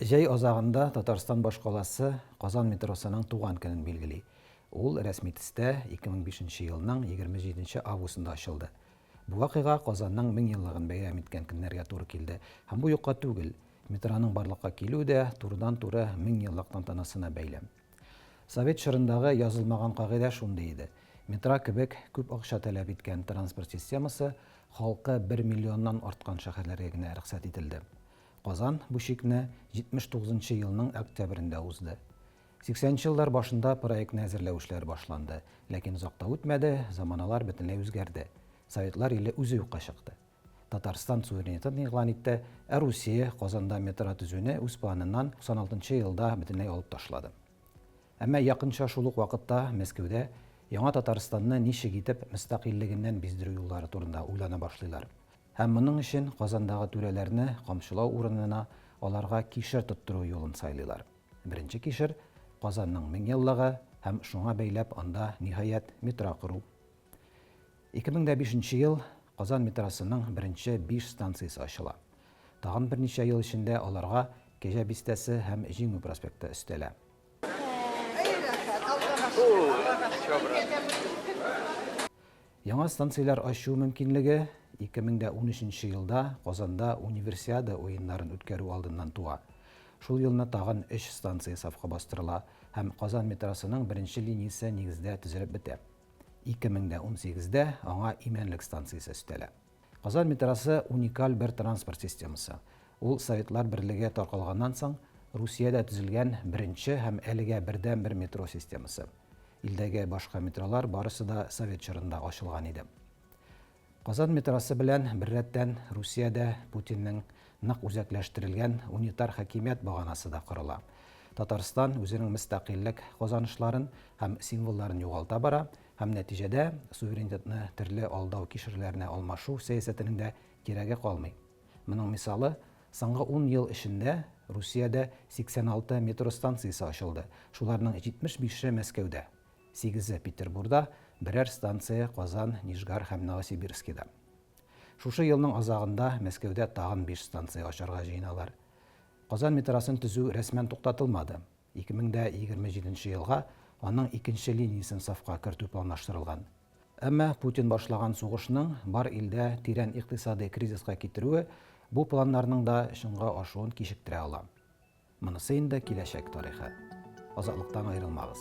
Җәй азагында Татарстан башкаласы Казан метросының туган көнен билгели. Ул рәсми төстә 2005 нче елның 27 нче августында ачылды. Бу вакыйга Казанның меңьеллыгын бәйрәм иткән көннәргә туры килде һәм бу юкка түгел, метроның барлыкка килүе дә турыдан-туры меңьеллык тантанасына бәйле. Совет чорындагы язылмаган кагыйдә шундый иде, метро кебек күп акча таләп иткән транспорт системасы халкы бер миллионнан арткан шәһәрләргә генә рөхсәт ителде. Казан бу чикне 79 нчы елның октябрендә узды. 80 нчы еллар башында проектны әзерләү эшләре башланды, ләкин озак та үтмәде, заманалар бөтенләй үзгәрде. Советлар иле үзе юкка чыкты. Татарстан суверенитетын игълан итте, ә Русия Казанда метро төзүне үз планыннан 96 нчы елда бөтенләй алып ташлады. Әмма якынча шул ук вакытта Мәскәүдә Яңа Татарстанны ничек итеп мөстәкыйльлегеннән биздерү юллары турында уйлана башлыйлар. Һәм моның өчен Казандагы түрәләрне камчылау урынына аларга кишер тоттыру юлын сайлыйлар. Беренче кишер, Казанның меңьеллыгы һәм шуңа бәйләп анда, ниһаять, метро кору. 2005 нче ел Казан метросының беренче биш станциясе ачыла. Тагын берничә ел эчендә аларга Кәҗә Бистәсе һәм Җиңү проспекты өстәлә. Яңа станцияләр ачу мөмкинлеге 2013 елда Казанда Универсиада уеннарын үткәрү алдыннан туа. Шул елны тагын өч станция сафка бастырыла һәм Казан метросының беренче линиясе нигездә төзелеп бетә. 2018дә аңа Имәнлек станциясе өстәлә. Казан метросы уникаль бер транспорт системасы. Ул Советлар Берлеге таркалганнан соң Русиядә төзелгән беренче һәм әлегә бердәнбер метро системасы. Илдәге башка метролар барысы да совет чорында ачылган иде. Казан метросы белән беррәттән Русиядә Путинның нык үзәкләштерелгән унитар хакимият баганасы да корыла. Татарстан үзенең мөстәкыйльлек казанышларын һәм символларын югалта бара, һәм нәтиҗәдә суверенитетны төрле алдау кишерләренә алмашу сәясәтенең дә кирәге калмый. Моның мисалы, соңгы ун ел эчендә Русиядә 86 метро станциясе ачылды, шуларның 75-е Мәскәүдә, сигезе Петербурда, берәр станция Казан, Нижгар һәм Новосибирскида. Шушы елның азагында Мәскәүдә тагын биш станция ачарга җыеналар. Казан метросын төзү рәсмән туктатылмады, 2027 елга аның икенче линиясен сафка кертү планлаштырылган. Әмма Путин башлаган сугышның бар илдә тирән икътисадый кризиска китерүе бу планнарның да чынга ашуын кичектерә ала. Монысы инде киләчәк тарихы. Азатлыктан аерылмагыз.